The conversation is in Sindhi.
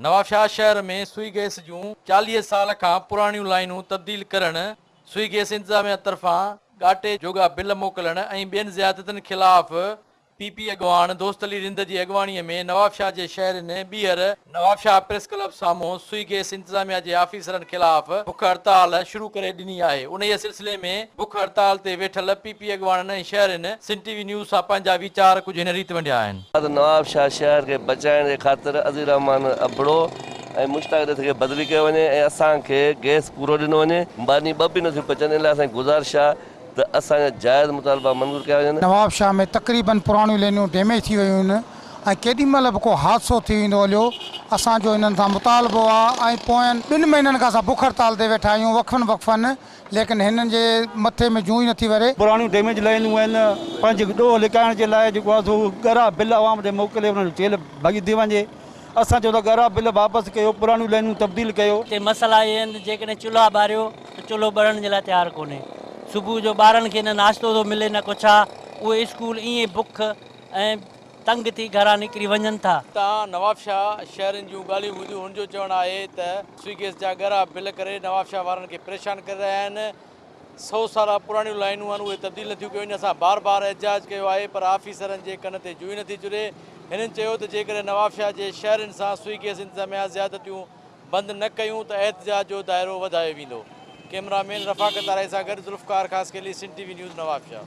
نوابشاهه شهر ۾ سوئي گئس جون چاليهه سال کان پراڻيون لائينون تبديل ڪرڻ، سوئي گئس انتظاميا طرفان ڳاٽي جوڳا بل موڪلڻ ۽ ٻين زيادتين خلاف پي پي اڳواڻ دوست علي رند جي اڳواڻي ۾ نوابشاهه جي شهرين ٻيهر نوابشاهه پريس ڪلب سامهون سوئي گئس انتظاميا جي آفيسرن خلاف بک هڙتال شروع ڪري ڏني آهي، انهيء سلسلي ۾ بک هڙتال تي ويٺل پي پي اڳواڻن ۽ شهرين سنڌ ٽي وي نيوز سان پنهنجا ويچار ڪجهه هن ريت ونڊيا آهن. بعد نوابشاهه شهر کي بچائڻ جي خاطر عزيز الرحمان ابڙو ۽ مشتاق ڏت کي بدلي ڪيو وڃي ۽ اسان کي گئس پورو ڏنو وڃي. ماني ٻه به نه ٿيون پچن ان لاء اسان جي گذارش آهي ته اسان جا جائز مطالبا منظور ڪيا وڃن. نوابشاهه ۾ تقريبن پراڻيون لينيون ڊيميج ٿي ويون آهن ۽ ڪيڏي مهل به ڪو حادثو ٿي ويندو اليو اسان جو انهن سان مطالبو آهي ۽ پوين ٻن مهينن کان اسان بک هڙتال تي ويٺا آهيون وقفن وقفن ليڪن هنن جي مٿي ۾ جون ئي نٿي وري. پراڻيون ڊيميج لائينون آهن، پنهنجي ڏوهه لڪائڻ جي لاء جيڪو آهي سو ڳرا بل عوام ڏي موڪلي انهن جو تيل ڀڄي وڃي. اسان چيو ته ڳرا بل واپس ڪيو، پراڻيون لائينون تبديل ڪيو. هتي مسئلا اهي آهن ته جيڪڏهن چلها ٻاريو ته چلهو ٻرڻ جي لاء تيار ڪونهي. صبح جو ٻارن کي نه ناشتو ٿو ملي نه ڪو ڇا، اهي اسڪول ائين بک ۽. تنگ ٿي گهران نڪري وڃن ٿا. اتان نوابشاهه شهرين جون ڳالهيون ٻڌيون هن جو چوڻ آهي ته سوئي گيس جا ڳرا بل ڪري نوابشاهه وارن کي پريشان ڪري رهيا آهن سو سالا پراڻيون لائينون آهن اهي تبديل نٿيون ڪيون وڃن اسان بار بار احتجاج ڪيو آهي پر آفيسرن جي ڪن تي جوئي نٿي چري هنن چيو ته جيڪڏهن نوابشاهه جي شهرين سان سوئي گيس انتظاميا زيادتيون بند نه ڪيون ته احتجاج جو دائرو وڌايو ويندو ڪئميرا مين رفاقت آرائي سان گڏ Zulfiqar Khaskheli Sindh T V news Nawabshah.